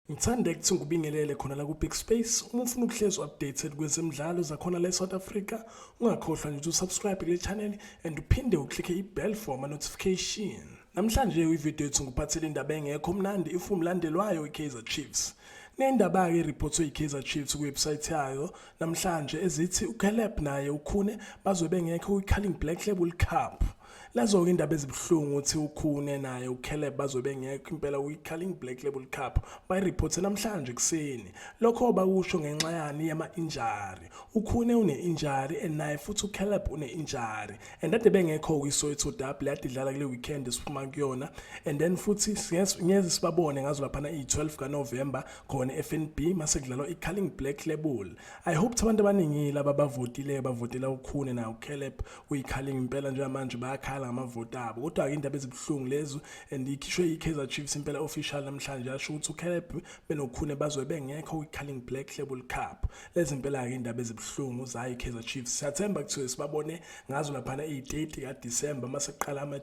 Ngithanda ukuthi ngikubingelele khona la ku-Big Space. Uma ufuna ukuhlezi updated kwezemidlalo zakhona la e-South Africa, ungakhohlwa nje ukuthi usubscribe kule channel and uphinde uklikhe i-bell for ama-notification. Namhlanje kwividiyo yethu ngikuphathele indaba engekho mnandi if umlandelwayo i-Kaizer Chiefs. Kunendaba-ke eriphotwe i-Kaizer Chiefs kwiwebsayithi yayo namhlanje ezithi uCaleb naye ukhune bazobe bengekho kwi-Carling Black Label Cup. Nazo-ke indaba ezibuhlungu ukuthi ukhune naye ucaleb bazobe bengekho impela kwi-carling black label cup bayiriphothe namhlanje ekuseni lokho bakusho ngenxa yani yama-injari ukhune une-injari and naye futhi ucaleb une-injari and ade bengekho kwisoweto double yade idlala kule weekend esiphuma kuyona and then futhi ngeze sibabone ngazo laphana iyi-12 kanovemba khona e-fnb mase kudlalwa i-carling black label i hope ukuthi abantu abaningile ababavotile bavotela ukhune naye ucaleb uyikhalinga impela njengamanje bayakhala ngamavoti abo kodwa ke indaba ezibuhlungu lezo and ikhishwe yi-kaizer chiefs impela official namhlanje asho ukuthi ucaleb benokhune bazobe bengekho kwi-carling black label cup lezi impela-ke indaba ezibuhlungu zayo i-kaizer chiefs siyathemba kuthiwe sibabone ngazo laphana iyi-30 kadisemba uma sekuqala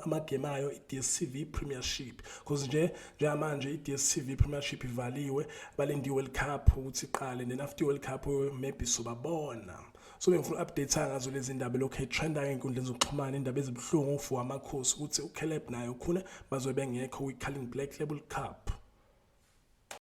amagemu ayo i-dstv premiership because nje njengamanje i-dstv premiership ivaliwe balinde i-world cup ukuthi iqale then after i-world cup maybe sobabona so bengifuna update ngazo lezi ndaba lokho etrenda ngeenkundleni zokuxhumana indaba ezibuhlungu ufu amakhosi ukuthi uCaleb naye ukhune bazobe bengekho kwi-Carling Black Label Cup